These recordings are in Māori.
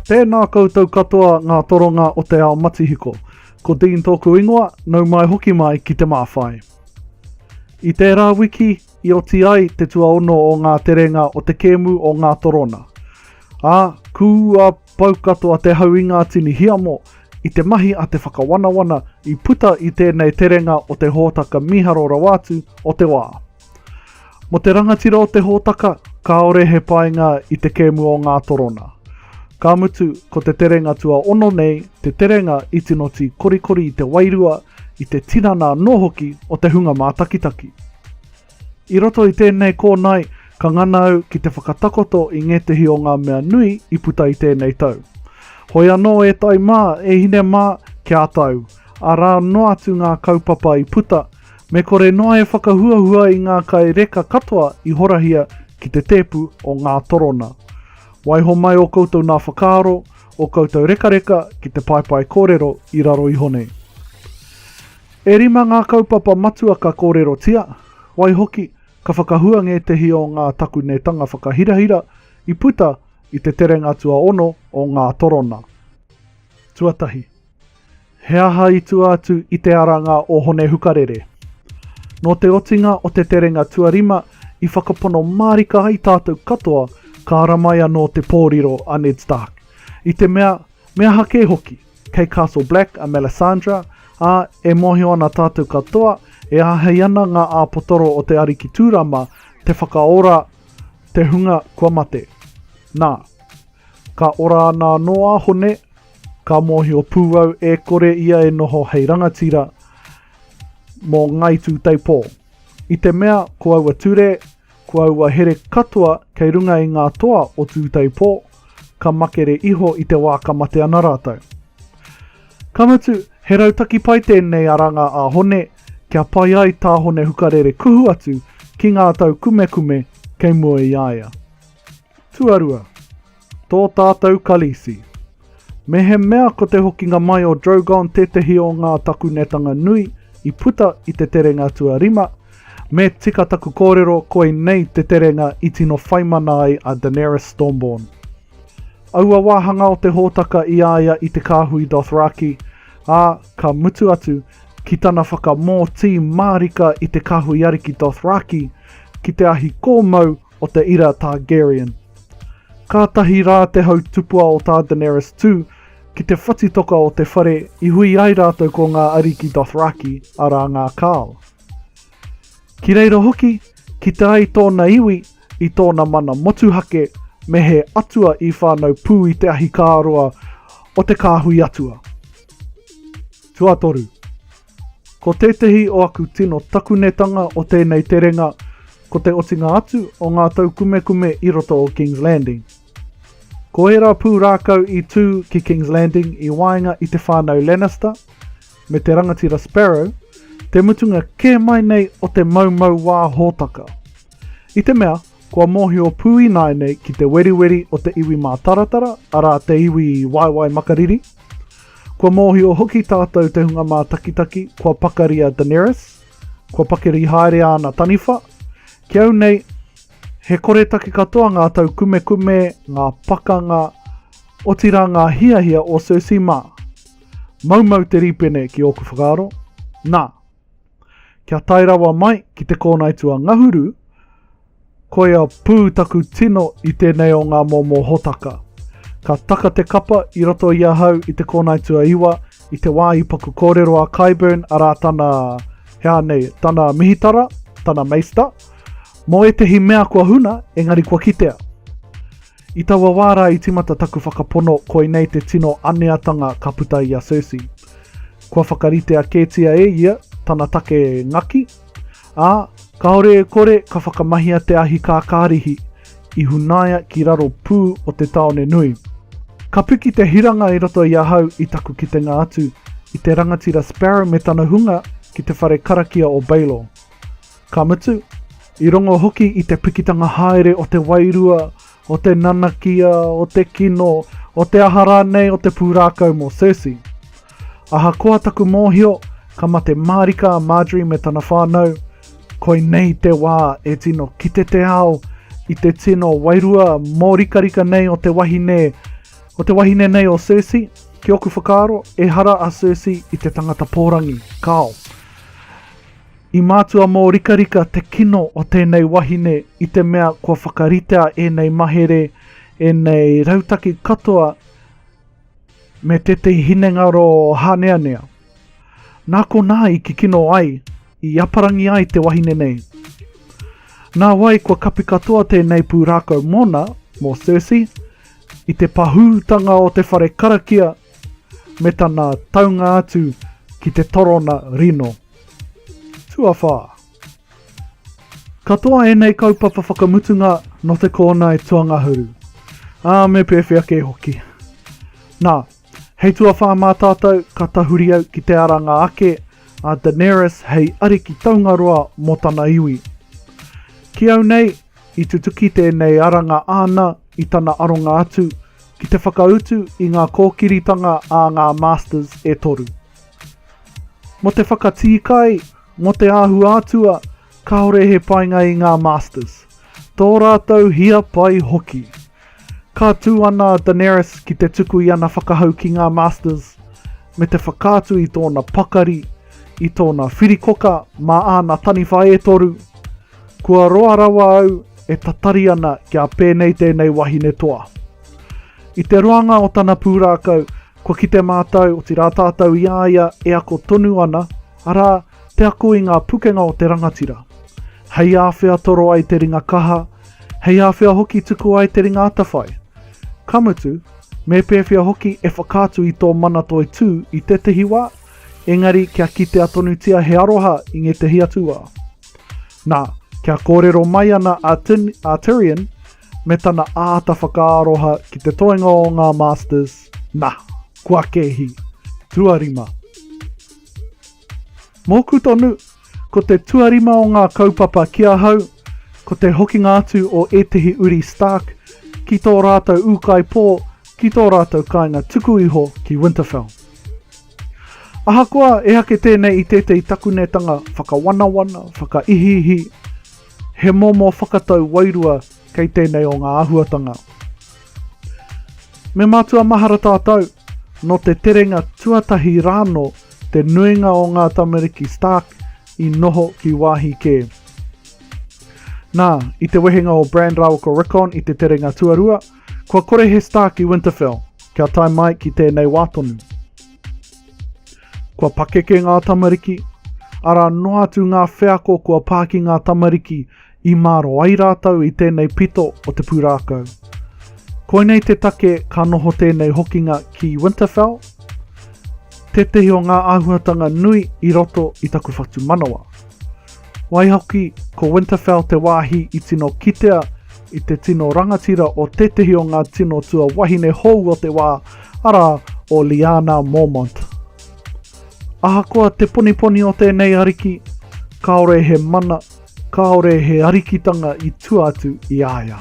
Tēnā koutou katoa ngā toronga o te ao matihiko. Ko Dean tōku ingoa, nau mai hoki mai ki Te Māwhai. I tērā wiki, i oti ai te tuaono o ngā terenga o te kēmu o Ngā Torona. Ā, kū a pau katoa te hau i ngā tini hiamo, i te mahi a te whakawanawana i puta i tēnei terenga o te hōtaka mīharo rawa atu o te wā. Mō te rangatira o te hōtaka, kāore he painga i te kēmu o ngā torona. Ka mutu, ko te terenga tuaono nei te terenga i tino tī korikori i te wairua, i te tinana anō hoki o te hunga mātakitaki. I roto i tēnei kōnae, ka ngana au ki te whakatakoto i ngētehi o ngā mea nui i puta i tēnei tau. Hoi anō e tai mā, e hine mā, kia ata au, arā noa atu ngā kaupapa i puta, Me kore noa e whakahuahua i ngā kai reka katoa i horahia ki te tēpu o ngā torona. Waiho mai ō koutou nā whakaaro, ō koutou rekareka ki te paepae kōrero i raro iho nei. E rima ngā kaupapa matua ka kōrerotia, waihoki, ka whakahua ngētehi o ngā takunetanga whakahirahira i puta i te terenga tuaono o ngā torona. Tuatahi. He aha i tua atu i te aranga o Hone Hukarere? Nō te otinga o te terenga tuarima i whakapono mārika ai tātou katoa ka ara mai anō te pōriro a Ned Stark. I te mea, me aha kē hoki, kei Castle Black a Melisandre, ā, e mōhio ana tātou katoa e āhei ana ngā āpotoro o te Ariki Tūrama te whakaora te hunga kua mate. Nā, ka ora ana anō a Hone, Ka mōhio pū au e kore ia e noho hei rangatira mō Ngāi Tūteipō. I te mea ko aua ture, ko aua here katoa kei runga i ngā toa o Tūteipō, ka makere iho i te wā ka mate ana rātou. Ka mutu, he rautaki pai tēnei a Ranga a Hone kia pai ai tā Hone Hukarere kuhu atu ki ngā tau kumekume kei mua i a ia. Tuarua, tō tātou Khaleesi. Mehemea ko te hokinga mai o Drogon tētehi o ngā takunetanga nui i puta i te terenga tuarima, me tika taku kōrero koinei te terenga i tino whaimana ai a Daenerys Stormborn. Aua wāhanga o te hōtaka i a ia i te kāhui Dothraki, ā, ka mutu atu ki tana whakamōtī mārika i te kāhui ariki Dothraki ki te ahi kōmau o te ira Targaryen. Kātahi rā te hau tupua o tā Daenerys tū ki te whatitoka o te whare i hui ai rātou ko ngā ariki Dothraki, arā ngā Khal. Ki reira hoki, kite ai tōna iwi i tōna mana motuhake me he atua i whānau pū i te ahikāroa o te kāhui atua. Tuatoru, Ko tētehi o aku tino takunetanga o tēnei terenga ko te otinga atu o ngā taukumekume i roto o Kings Landing. Ko ērā pūrākau i tū ki Kings Landing i waenga i te whānau Lannister me te rangatira Sparrow, te mutunga kē mai nei o te maumau wā hōtaka. I te mea, kua mōhio pū ināianei ki te weriweri o te iwi mātaratara, arā, te iwi i waewae makariri. Kua mōhio hoki tātou te hunga mātakitaki kua pakari a Daenerys, kua pakari haere āna taniwha. Ki au nei, he koretake katoa ngā taukumekume, ngā pakanga, otirā ngā hiahia o Cersei mā. Maumau te rīpene ki ōku whakaaro. Nā. Kia tae rawa mai ki te kōnaitū a Ngahuru, koia pū taku tino i tēnei o ngā momo hōtaka. Ka taka te kapa i roto i ahau i te kōnaitū a Iwa i te wā i paku kōrero a Kyburn arā tana, hea nei, tana mihitara, tana meista, mō ētehi mea kua huna engari kua kitea. I taua wā rā i tīmata taku whakapono koinei te tino aneatanga ka puta i a Cersei. Kua whakaritea kētia e ia tana take ngaki, ā, kāore e kore ka whakamahia te ahi kākārihi i hunaia ki raro pū o te tāone nui. Ka piki te hiranga i roto i ahau i taku kitenga atu i te rangatira Sparrow me tana hunga ki te whare karakia o Baelor. Ka mutu, i rongo hoki i te pikitanga haere o te wairua, o te nanakia, o te kino, o te aha rānei o te pūrākau mō Cersei. Ahakoa taku mōhio, ka mate mārika a Margaery me tana whānau, koinei te wā e tino kite te ao i te tino wairua mōrikarika nei o te wahine, o te wahine nei o Cersei, ki ōku whakaaro, ehara a Cersei i te tangata pōrangi, kāo. I mātua mōrikarika te kino o tēnei wahine i te mea kua whakaritea ēnei mahere, ēnei rautaki katoa me tētehi hinengaro hāneanea. Nā konā i kikino ai, i aparangi ai te wahine nei. Nā wai kua kapi katoa tēnei pūrākau mōna, mō Circe, i te pahūtanga o te whare karakia me tana taunga atu ki te torona rino. Tuawhā. Katoa ēnei kaupapa whakamutunga nō te kōnae tuangahuru, ā, me pēwhea kē hoki. Nā, hei tuawhā mā tātou ka tahuri au ki te aranga ake a Daenerys hei ariki taungaroa mō tana iwi. Ki au nei, I tutuki tēnei aranga āna i tana aronga atu ki te whakautu i ngā kōkiritanga a ngā Masters e toru. Mō te whakatīkai, mō te āhua atua, kāore he painga i ngā Masters, tō rātou hia pai hoki. Ka tū ana a Daenerys ki te tuku i ana whakahau ki ngā Masters, me te whakaatu i tōna pakari, i tōna whirikoka mā āna taniwha e toru. Kua roa rawa au e tatari ana kia pēnei tēnei wahine toa. I te roanga o tana pūrākau, kua kite mātou, otirā tātou i a ia e ako tonu ana, Arā, te ako i ngā pukenga o te rangatira. Hei āwhea toro ai te ringa kaha, hei āwhea hoki tuku ai te ringa atawhai. Ka mutu, me pēwhea hoki e whakaatu i tō mana toi tū i tētehi wā, engari kia kitea tonutia he aroha i ngētehi atu wā. Nā, kia kōrero mai ana a Tin, a Tirian, me tana āta whakaaroha ki te toenga o ngā Masters, nā, kua kēhi. Tuarima. Mōku tonu, ko te tuarima o ngā kaupapa ki ahau, ko te hokinga atu o ētehi uri Stark ki tō rātou ūkaipō ki tō rātou kāinga tuku iho ki Winterfell. Ahakoa e ake tēnei i tētehi takunetanga whakawanawana, whakaihiihi, he momo whakatau wairua kei tēnei o ngā āhuatanga. Me mātua mahara tātou, nō te terenga tuatahi rānō te nuinga o ngā tamariki Stark i noho ki wāhi kē. Nā, i te wehenga o Bran rāua ko Rickon i te terenga tuarua, kua kore he Stark i Winterfell, kia tae mai ki tēnei wā tonu. Kua pakeke ngā tamariki, arā noa atu ngā wheako kua pā ki ngā tamariki I mārō ai rātou i tēnei pito o te pūrākau. Koinei te take ka noho tēnei hokinga ki Winterfell, tētehi o ngā āhuatanga nui i roto i taku whatumanawa. Waihoki, ko Winterfell te wāhi i tino kitea i te tino rangatira o tētehi o ngā tino tua wahine hou o te wā, arā, o Lyanna Mormont. Ahakoa te poniponi o tēnei ariki, kāore he mana Kāore he arikitanga i tua atu i a ia.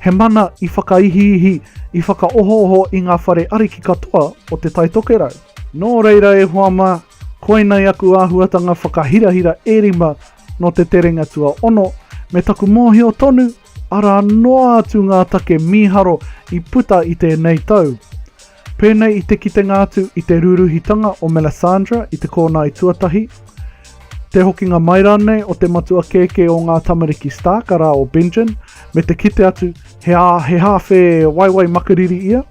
He mana i whakaihiihi, i whakaohooho i ngā whare ariki katoa o Te Tai Tokerau. Nō reira e hoa mā, koinei aku āhuatanga whakahirahira e rima nō te terenga tuaono, me taku mōhio tonu, arā noa atu ngā take mīharo i puta i tēnei tau. Pēnei i te kitenga atu i te rūrūhitanga o Melisandre i te kōnae tuatahi, te hokinga mai rānei o te matua kēkē o ngā tamariki Stark, arā o Benjen, me te kite atu he, he hāwhe waiwai makariri ia.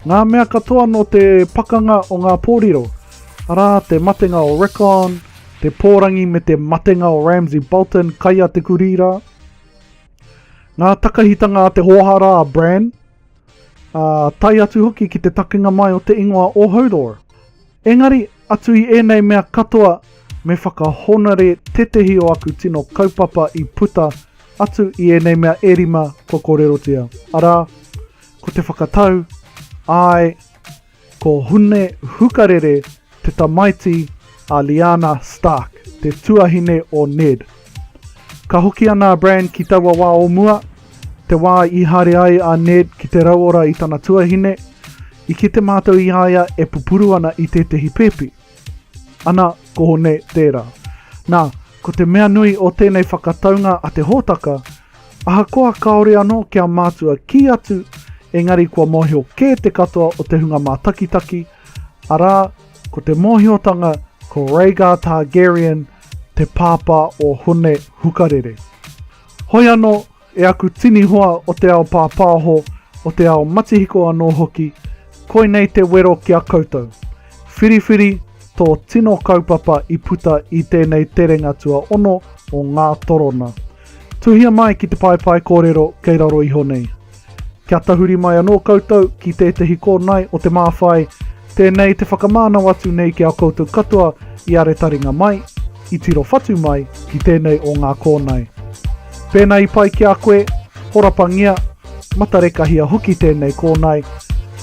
Ngā mea katoa nō te pakanga o ngā pōriro, arā te matenga o Rickon, te pōrangi me te matenga o Ramsay Bolton kai a te kurī rā. Ngā takahitanga a te hōhā rā a Bran, ā, tae atu hoki ki te takenga mai o te ingoa o Hodor. Engari, atu i ēnei mea katoa, me whakahonore tētehi o aku tino kaupapa i puta atu i ēnei mea e rima kua kōrerotia, arā, ko te whakatau, āe, Ko Hune Hukarere te tamaiti a Lyanna Stark, te tuahine o Ned. Ka hoki ana a Bran ki taua wā o mua, te wā i haere ai a Ned ki te rauora i tana tuahine, i kite mātou i a ia e pupuru ana i tētehi pēpi. Ana, kohone, tērā. Nā, ko te mea nui o tēnei whakataunga a te hōtaka, ahakoa kāore anō kia mātua kī atu, engari kua mōhio kē te katoa o te hunga mātakitaki, arā, ko te mōhiotanga ko Rhaegar Targaryen te pāpā o Hone Hukarere. Hoi anō, E aku tini hoa o te ao pāpāho, o te ao matihiko anō hoki, koinei te wero ki a koutou. Whiriwhiri tō tino kaupapa i puta i tēnei terenga tuaono o Ngā Torona. Tuhia mai ki te paepae kōrero kei raro iho nei. Kia tahuri mai anō koutou ki tētehi kōnae o Te Māwhai, Tēnei te whakamānau atu nei ki a koutou katoa i are taringa mai, i tiro whatu mai ki tēnei o ngā kōnae. Pēnā i pai ki a koe, horapangia, matarekahia hoki tēnei kōnae,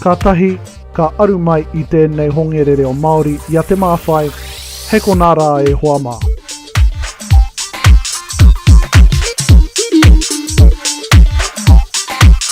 ka tahi, ka aru mai i tēnei hongere reo Māori i a Te Māwhai, hei konā rā e hoa mā.